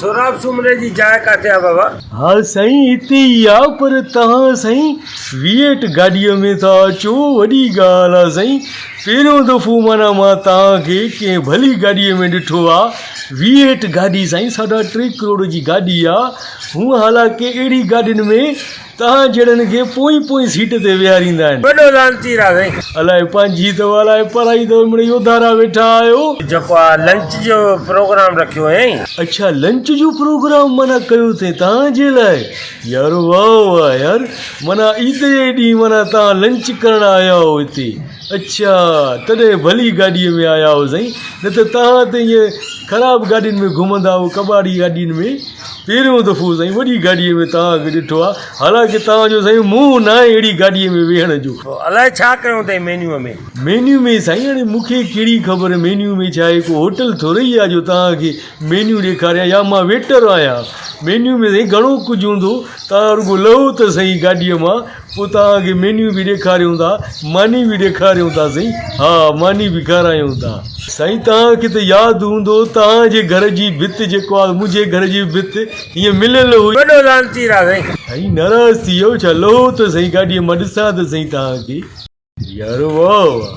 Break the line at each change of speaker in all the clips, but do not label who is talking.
سهراب سومري
جي جاء ڪاٿي آهي بابا؟ ها سائين
هتي ئي آ پر توهان سائين ويئٽ گاڏيء ۾ ٿا اچو وڏي ڳالهه آ سائين پهريون دفعو معنيٰ مان توهان کي ڪنهن ڀلي گاڏيء ۾ ڏٺو آ ويئٽ گاڏي سائين ساڍا ٽي ڪروڙ جي گاڏي آ هونء حالانڪه اهڙي گاڏين ۾ تهان جهڙن کي پوئين پوئين سيٽ تي ويهاريندا آهن. وڏو لعنتي را سائين.
الاهي پنهنجي اٿو
الاهي پرائي اٿو امڙي يوڌا را ويٺا آهيو. جيڪو آ لنچ
جو پروگرام رکيو هيائين. اڇا لنچ جو
پروگرام معنيٰ ڪيو اٿئين تهان جي لاء يارو واه واه يار معنيٰ عيد جي ڏينهن معنيٰ تهان لنچ ڪرڻ آيا هئو هتي اڇا تڏهن ڀلي گاڏي ۾ آيا هئو سائين نه ته تهان ته ائين خراب گاڏين ۾ گهمندا هئو ڪٻاڙي گاڏين ۾ پهريون دفعو سائين وڏي گاڏيء ۾ توهان کي ڏٺو آهي، حالانڪه توهان جو سائين منهن ناهي اهڙي گاڏيء ۾ ويهڻ جو. الائي ڇا ڪيو
اٿئي مينيوء ۾؟ مينيو ۾ سائين هاڻي
مون کي ڪهڙي خبر مينيو ۾ ڇا آهي، ڪو هوٽل ٿورئي آهي جو توهان کي مينيو ڏيکاريان يا مان ويٽر آهيان. مينيو ۾ سائين گهڻو ڪجهه هوندو، توهان رڳو لهو ته سهي گاڏيء مان. پوء توهان کي مينيو به ڏيکاريون ٿا ماني به ڏيکاريون ٿا سائين ها ماني به کارايون ٿا. سائين توهان کي ته ياد هوندو توهان جي گهر جي ڀت جيڪو آ منهنجي گهر جي به ڀت ائين مليل هئي. وڏو لعنتي را سائين.
سائين ناراض ٿي
ويو ڇا لهو ته سائين گاڏيء مان ڏسان ته سائين توهان کي. يارو واهه واهه.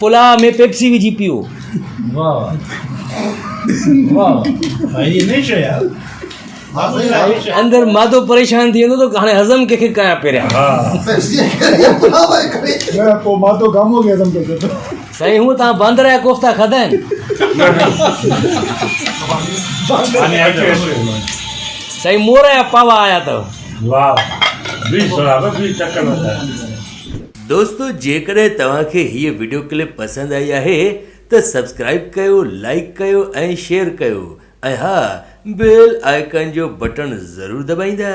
پلاء ۾ پيپسي وجهي پيئو. اندر معدو پريشان ٿي ويندو ته هاڻي هضم ڪنهن کي ڪيان پهريان. سائين هونء توهان باندر جا ڪوفتا کاڌا آهن. سائين مور جا پاوا آيا اٿو.
دوستو جيڪڏهن توهان کي هيء وڊيو ڪلپ پسند آئي آهي ته سبسڪرائب ڪيو لائيڪ ڪيو ۽ شيئر ڪيو ۽ ها بيل آئيڪان جو بٽڻ ضرور دٻائيندا.